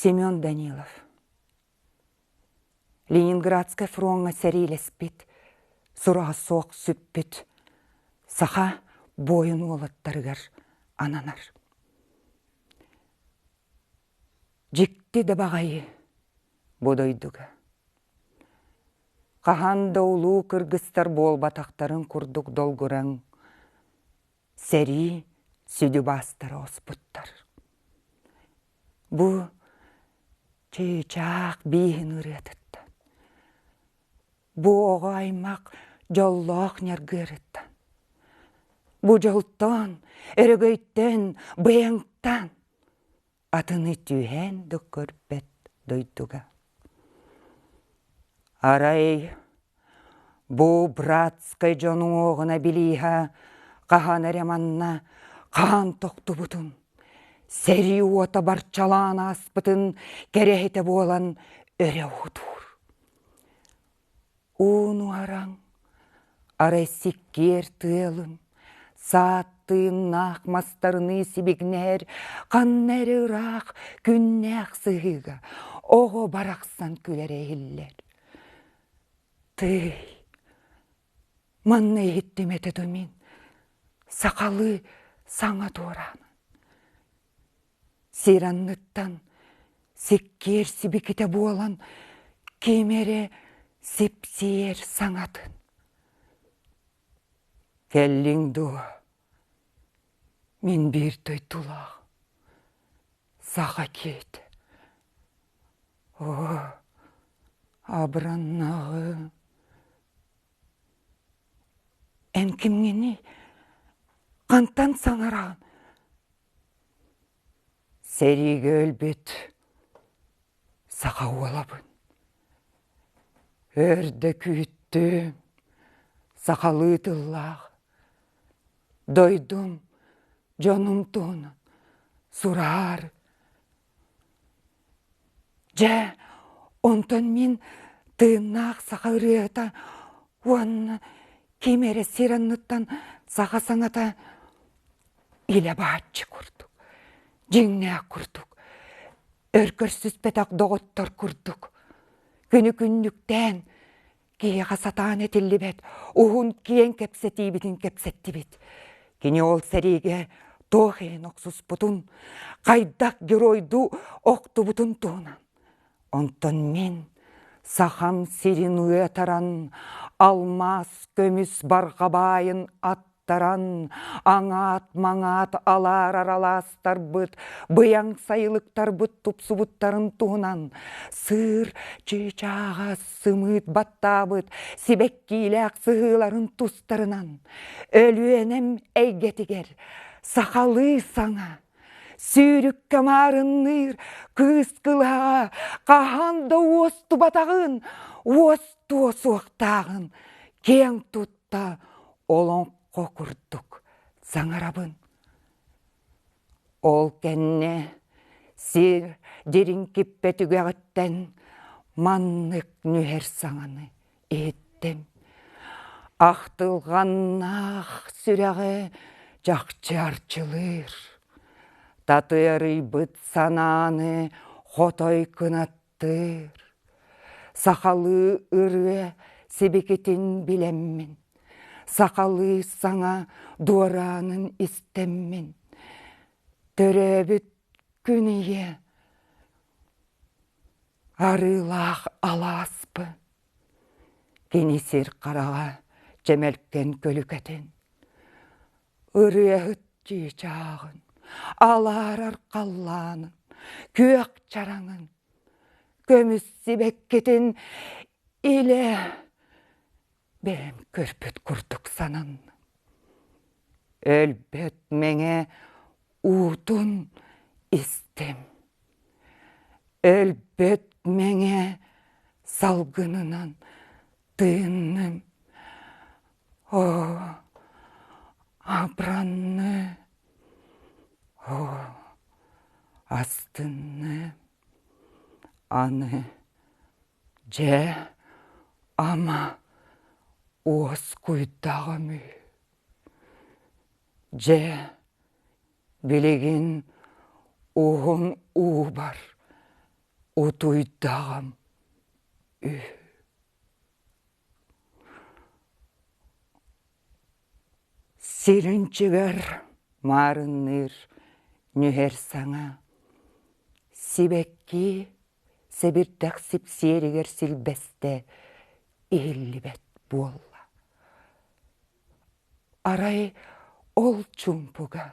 Семен Данилов Ленинградскай фроҥҥа сэриилэспит, сураҕа суох сүппүт саха буойун уолаттарыгар ананар. Дьикти да баҕайы бу дойдуга. Хаһан да улуу кыргыстар буолбатахтарын курдук долгураҥ, сэрии сүдү убаастара оспуттар. Бу чыычаах бииһин ырыатыттан, бу оҕо аймах дьоллоох ньаргыарыттан, бу дьолтон, өрөгөйтөн, быйаҥтан Атыны түһээн да көрбөт дойдуга. Арай бу братскай дьон уҥуоҕуна билииһэ хаһан эрэ манна хаан тохтубутун, сэрии уота барчалаан ааспытын кэрэһитэ буолан өрө уһутуур. Ууну араҥ, арай сиккиэр тыалын, саат тыыннаах мастарыныы сибигинэһэр ханна эрэ ыраах күннээх сыһыыга оҕо барахсан күлэрэ иһиллэр. Тыый, манна иһиттим этэ дуо мин сахалыы саҥа туораамын. сир анныттан сиккиэр сибикитэ буолан ким эрэ сипсийэр саҥатын кэллиҥ дуо мин биир дойдулаах саха киһитэ оо абыраннаҕы эн кимҥиний хантан саҥараҕын Сэриигэ өлбүт саха уолабын. Өрдө күүттүм, сахалыы тыллаах. Дойдум, дьонум туһунан сураар, Дьэ, онтон мин тыыннаах саха ырыаһыта уонна ким эрэ сир анныттан саха саҥата илэ бааччы курдук, дьиҥнээх курдук, өр көрсүспэтэх доҕоттор курдук, күнү күннүктээн Киһиэхэ сатаан этиллибэт уһун киэҥ кэпсэтиибитин кэпсэттибит. Кини ол сэриигэ туох иһин охсуспутун, хайдах геройдуу охтубутун туһунан. Онтон мин Сахам сирин уйатаран, алмаас көмүс барҕабаайын ат Таран аҥаат-маҥаат алаарар алаастарбыт, быйаҥ сайылыктарбыт тупсубуттарын туһунан сыыр чыычааҕас сымыыт баттаабыт сибэккиилээх сыһыыларын тустарынан Өлүөнэм эйгэтигэр сахалыы саҥа, сүүрүккэ маарынныыр кыыс кылааҕа хаһан да уостубатаҕын, уостуо суохтааҕын киэҥ тутта та олоҥхо курдук саҥарабын ол кэннэ сир дириҥкиппэ түгэҕиттэн маннык нүһэр саҥаны иһиттим ахтылҕаннаах сүрэҕи чахчы арчылыыр татыарыйбыт санааны хотой кынаттыыр Тыыр, сахалыы ырыа сибикитин билэммин, сахалыы саҥа дуораанын истэммин, төрөөбүт күн ийэ арыылаах алааспын, кини сир хараҕа чэмэлкэн күлүкэтин, ырыаһыт чыычааҕын, алаарар халлаанын, күөх чараҥын, көмүс сибэккитин илэ бэйэм көрбүт курдук сананным. Өлбөт мэҥэ уутун истим. Өлбөт мэҥэ салгынынан тыынным абранны астынны аны дьэ ама уоскуйдаҕым үһү дьэ билигин уһун уубар утуйдаҕым үһү Сиринчигэр маарынныыр нүһэр саҥа сибэкки сэбирдэх сипсиэригэр силбэстэ иһиллибэт буолла арай ол чуумпуга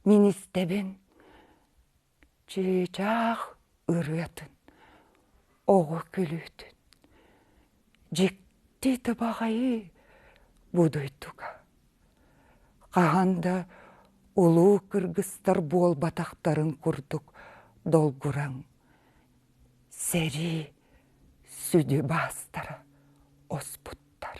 мин истэбин чыычаах ырыатын, оҕо күлүүтүн, дьикти табаҕайы бу дойдуга хаһан да улуу кыргыстар буолбатахтарын курдук долгураҥ сэрии сүдү баастара оспуттар